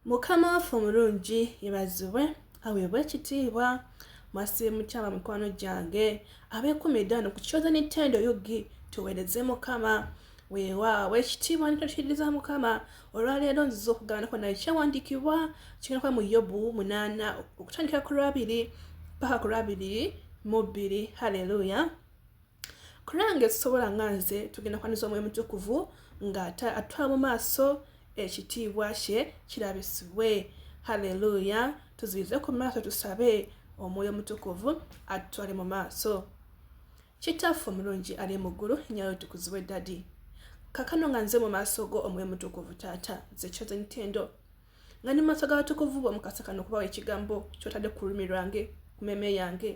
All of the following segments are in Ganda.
Mukama waffe omulungi yebazibwe aweebwe ekitiibwa mwasibe mukyama mikwano gyange abekumidda no kukyoza nintendo yugi tuwereze mukama weewaawo ekitiibwa nitokiriza mukama olwaleero nziza okugabanako naye kyewandiikibwa kigendakuba mu yobu munaana okutandikira ku lwabiri paka ku lwabiri mu bbiri halleluya kulange tusobola nga nze tugenda kwaniza omwoyo mutukuvu nga atwala mu maaso ekitiibwa kye kirabisibwe haleluya tuzibize ku maaso tusabe omwoyo mutukuvu atutwale mu maaso kitaffe omulungi ali mu ggulu nyayo tukuzibwe dadi kakano nga nze mu maaso go omwoyo mutukuvu taata nze kyoze ntendo nga ni mu maaso g'abatukuvu bo mukasa kano okubawa ekigambo kyotadde ku lulimi lwange ku meme yange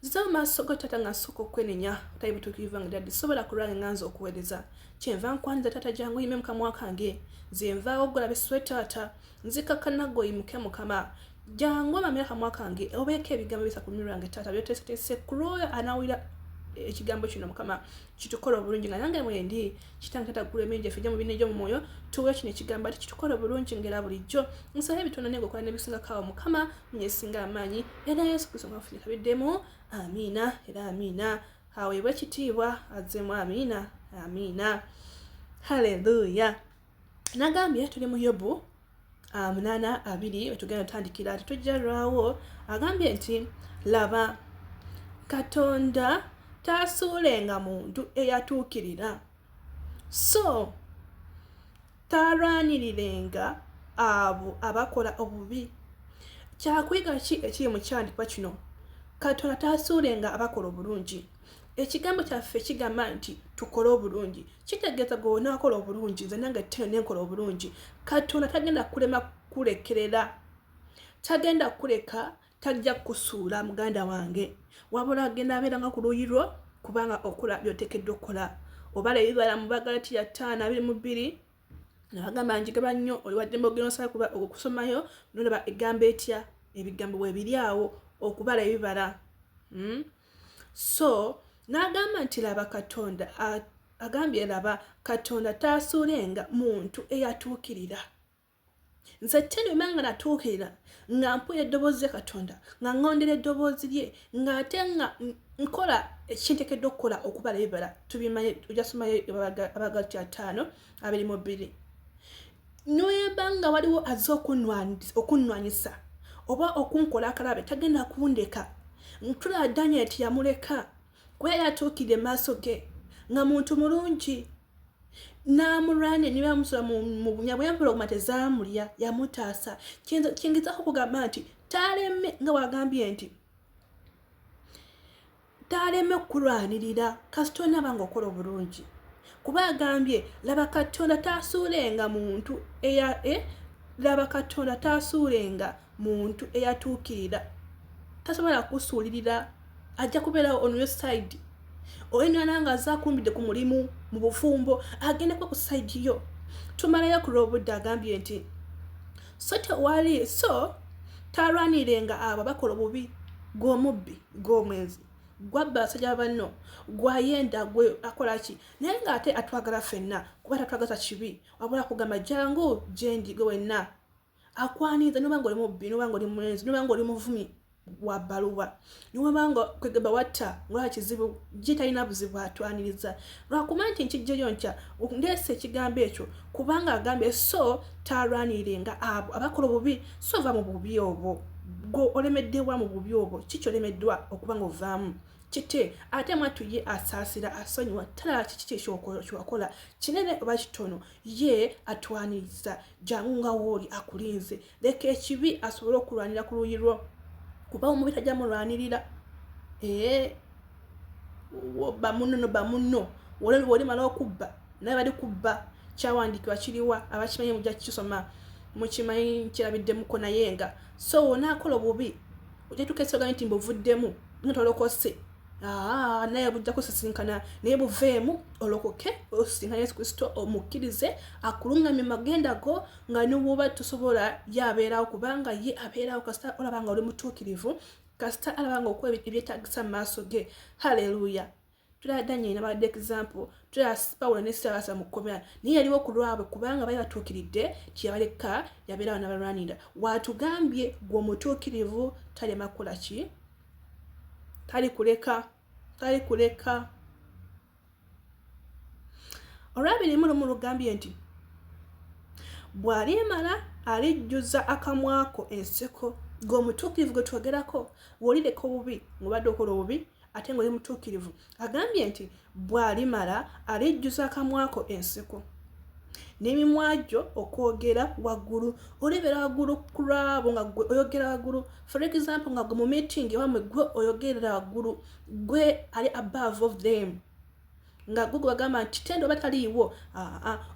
nziza amaaso ga taata nga nsooka okwenenya tayi butuukirivu nga daddi sobola kulwange nga nze okuweereza kyenva nkwanyiza taata jangu oyime mukamwa kange nze nvaawo ogulabe swe taata nzikakkana gwe oyimuke mukama jangu omamira kamwa kange obeeko ebigambo bisa ku lulimi lwange taata byoteeseteese kulwoyo anaawulira ekigambo kino mukama kitukola obulungi nga nange mwendi kitange tata gula emirimu gyaffe gya mubina egyomumwoyo tuwe kino ekigambo ati kitukola obulungi ngera bulijjo nsaba ebitono naye ngaokola nebisingakawo mukama munyesinga amaanyi era yesu kristo ngafunika biddemu amiina era amiina aweebwe ekitiibwa azzemu amiina amiina haleluya nagambye tuli mu yobu ah, munaana abiri wetugenda otandikira tetujja lwawo agambye nti laba katonda taasuulenga muntu eyatuukirira so taalwanirirenga abo abakola obubi kyakuyiga ki ekiri mu kyandipa kino katonda taasuulenga abakola obulungi ekigambo kyaffe kigamba nti tukole obulungi kitegeeza gwe wonakola obulungi nze nange tino nenkola obulungi katonda tagenda kulema kulekerera tagenda kuleka tajja kusuula muganda wange wabula agenda abeeranga ku luuyi lwo kubanga okola byotekeddwa okukola oba lebibala mu bagalati ya ttaano abiri mu bbiri nabagamba njigaba nnyo oliwaddemba ogenda osala kuba okusomayo nolaba egambo etya ebigambo bwebiri awo okubala ebibala hmm? so n'agamba nti laba katonda agambye laba katonda taasuulenga muntu eyatuukirira nze tenuma nga natuukirira nga mpula eddoboozi lya katonda nga ngondera eddoboozi lye ng'ate nga nkola ekintekedde okukola okubala ebibala tubimanye ojasoma abagalti ataano abiri mu bbiri noyemba nga waliwo aze okunnwanyisa oba okunkola akalabe tagenda kundeka ntulaba daniel ti yamuleka kuba yali atuukidde maaso ge nga muntu mulungi n'amulwane ne bamusula mu bunya bwe yampola okuma tezaamulya yamutaasa kyengezako okugamba nti taleme nga wagambye nti taleme kukulwanirira kasita onaba nga okola obulungi kuba agambye laba katonda tasuulenga muntu eya e laba katonda tasuulenga muntu eyatuukirira tasobola kukusuulirira ajja kubeerawo on your side oyenana nga aze akumbidde ku mulimu mu bufumbo agenda kuba ku side yo tumalayo ku lwobudde agambye nti so tewali so talwanirenga abo bakola obubi gw'omubbi gw'omwenzi gwabba basajja banno gwayenda gwe akolaki naye ng'ate atwagala fenna kuba tatwagaza kibi wabula kugamba jangu gyendi gwe wenna akwaniza noba nga oli mubbi noba nga oli mwenzi noba nga oli muvumi wa baluwa niwaba nga kwegamba watta ngolaba kizibu gye talina buzibu atwaniriza lwakuba nti nkijjeyo nkya ndeesa ekigambo ekyo kubanga agambye so talwaniringa abo abakola obubi so va mu bubi obwo gwe olemeddewa mu bubi obwo kiki olemeddwa okuba nga ovaamu kite ate mwattu ye asaasira asonyiwa talaba kiki kyekyokola kinene oba kitono ye atwaniriza jangu nga wooli akulinze leka ekibi asobole okulwanira ku luuyi lwo kuba omubi tajja mulwanirira ee bamunno no bamunno wolimala okubba naye bali kubba kyawandiikibwa kiriwa abakimanyi mujja kukisoma mukimanyi nkirabiddemuko naye nga so wonaakola obubi ojetuka esoga nti mbuvuddemu notolokose Ah, naye bujja kusisinkana naye buveemu olokoke osisinkana yesu kristo omukkirize akulungamye magenda go nga nobwoba tosobola ye abeerawo kubanga ye abeerawo kasita olaba nga oli mutuukirivu kasita alaba nga okuwa ebyetagisa mu maaso ge haleluya tulaba danyeri nabadde example tulaba pawulo ne sirabasa mu kkomera naye yaliwo ku lwabwe kubanga bali batuukiridde kyeyabaleka yabeerawo nabalwanira waatugambye gwe omutuukirivu talema kukola ki tali kuleka tali kuleka olwabiri mu lumu lugambye nti bw'alimala alijjuza akamwako enseko ng'omutuukirivu gwe twogerako wolireka obubi ng'obadde okola obubi ate ng'oli mutuukirivu agambye nti bw'alimala alijjuza akamwako enseko n'emimwa gyo okwogera waggulu olebera waggulu ku lwabo nga gwe oyogera waggulu for example nga gwe mu meeting ewamwe gwe oyogerera waggulu gwe ali above of them nga gwe gwagamba nti tendo oba taliiwo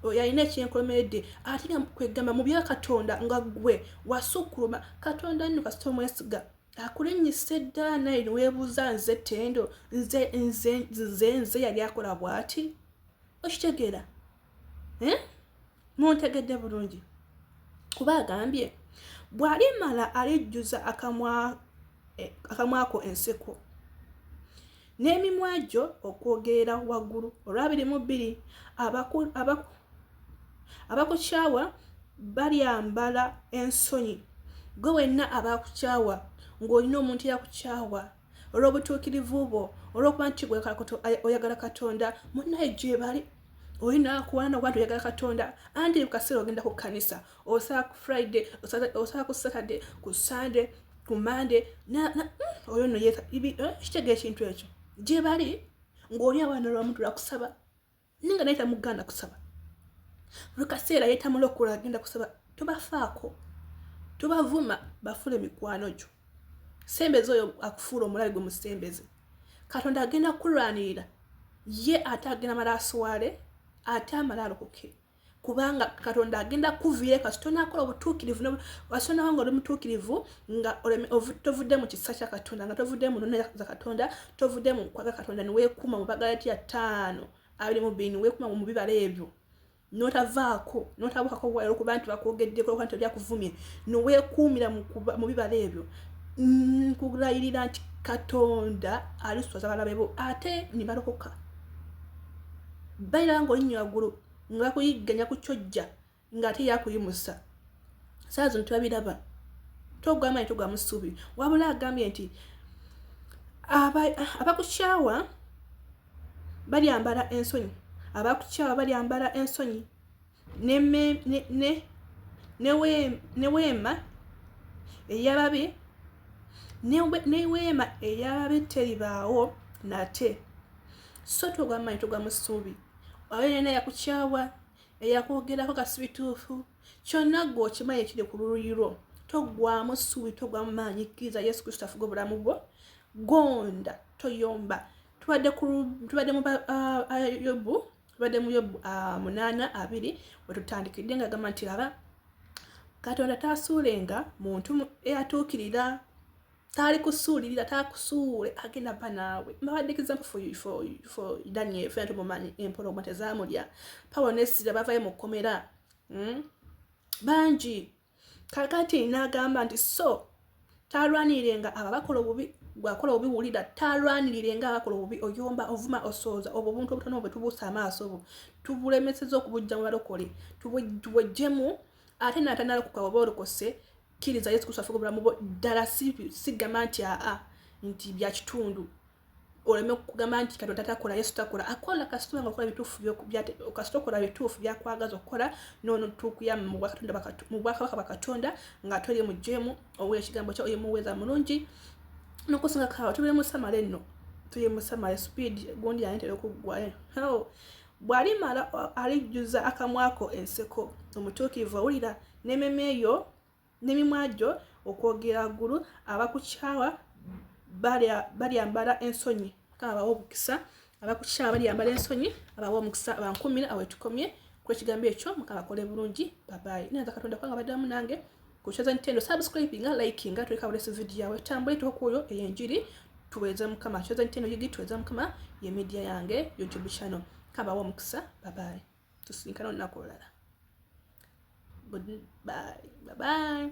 oyo alina ekyenkomeredde ate nga kwegamba mu bya katonda nga gwe wasukkuluma katonda nno kasita omwesiga akulinnyise dda naye niweebuuza nze tendo nze nze nze nze yali akola bw'ati okitegeera eh? muntegedde bulungi kuba agambye bw'alimala alijjuza akamwa eh, akamwako enseko n'emimwa gyo okwogerera waggulu olwabiri mu bbiri abakukyawa balyambala ensonyi gwe wenna abakukyawa ng'olina omuntu eyakukyawa olw'obutuukirivu bwo olw'okuba nti oyagala katonda munaye gyebali oli nakuwana nokuba nti oyagala katonda anti kaseera ogenda ku kkanisa osala ku friday osala ku saturday ku sunday ku monday hmm, oyo no eh, kitegeera ekintu ekyo gyebali ng'oli awana olwamuntu lwakusaba naye nga naye tamugaana kusaba buli kaseera yetamulokola agenda kusaba tobafaako tobavuma bafuule mikwano gyo sembeza oyo akufuula omulabe gwe musembeze katonda agenda kulwanirira ye ate agenda mala aswale ate amala alokoke okay. kubanga katonda agenda kukuviira kasita onakola obutuukirivu kasita onaba nga oli mutuukirivu nga tovudde mu kisa kya katonda nga tovudde mu nona za katonda tovudde mu nkwaga katonda niweekuuma mu bagala tya ttaano abiri mu bbiri niweekuuma mu bibala ebyo notavaako notabukako wala okuba nti bakwogeddeko okuba nti oli akuvumye niweekuumira mu bibala ebyo nkulayirira nti katonda aliswaza balabe bo ate nibalokoka bayiranga olinnyo waggulu nga bakuyigganya ku kyojja ng'ate yakuyimusa saa zino tebabiraba togwamanyi togwamu ssuubi wabula agambye nti abakukyawa balyambala ensonyi abakukyawa balyambala ensonyi neweema eyababi neweema eyababi teribaawo nate so togwamanyi togwamu ssuubi oyo yena yakukyawa eyakwogerako kasibituufu kyonna gwe okimanyi ekiri ku luuyi lwo toggwamu ssuubi toggwamu maanyi kkiriza yesu kristo afuga obulamu bwo gonda toyomba tubadde mu ah, ah, yobu tubadde mu yobu ah, munaana abiri wetutandikidde nga gamba nti laba katonda taasuulenga muntu eyatuukirira taali kusuulirira taakusuule agenda pa naawe mbabadde example for, for, for daniel fena tumumanyi empologoma tezaamulya pawo nesira bavayo mu kkomera hmm? bangi kakati naagamba nti so talwanirirenga abo abakola obubi gwakola obubi wulira talwanirirenga abakola obubi oyomba ovuma osooza obwo obuntu obutono bwe tubuusa amaaso obwo tubulemeseza okubujja mu balokole tubwejjemu ate naatandala kukaba oba olokose kkiriza yesu kristo afuga obulamu bwo ddala sigamba nti aa nti byakitundu oleme kugamba nti kati otatakola yesu takola akola kasitoma nga okola bituufu kasita okola bituufu byakwagaza okukola noono tukuya mu bwakabaka bwa katonda nga toli mu jemu owa ekigambo kya oyemuweeza mulungi nokusinga kawa tubire musamale nno tuye musamale speed gundi yantera okuggwayo bw'alimala alijjuza akamwa ko enseko omutuukirivu owulira n'ememe yo n'emimwa gyo okwogera ggulu abakukyawa balyambala ensonyi mukama bawa obukisa abakukyawa balyambala ensonyi abawa omukisa bankumire awetukomye kwekigambo ekyo mukama akole bulungi babayi naye nza katonda kubanga baddamu nange kucheza nintendo subscribe nga like nga tuleka bulesu video yawe tambule tokuyo eyenjiri tuweza mukama cheza nintendo yigi tuweza mukama ye media yange youtube channel kaba wa mukisa bye bye tusinkana olunaku olulala bye bye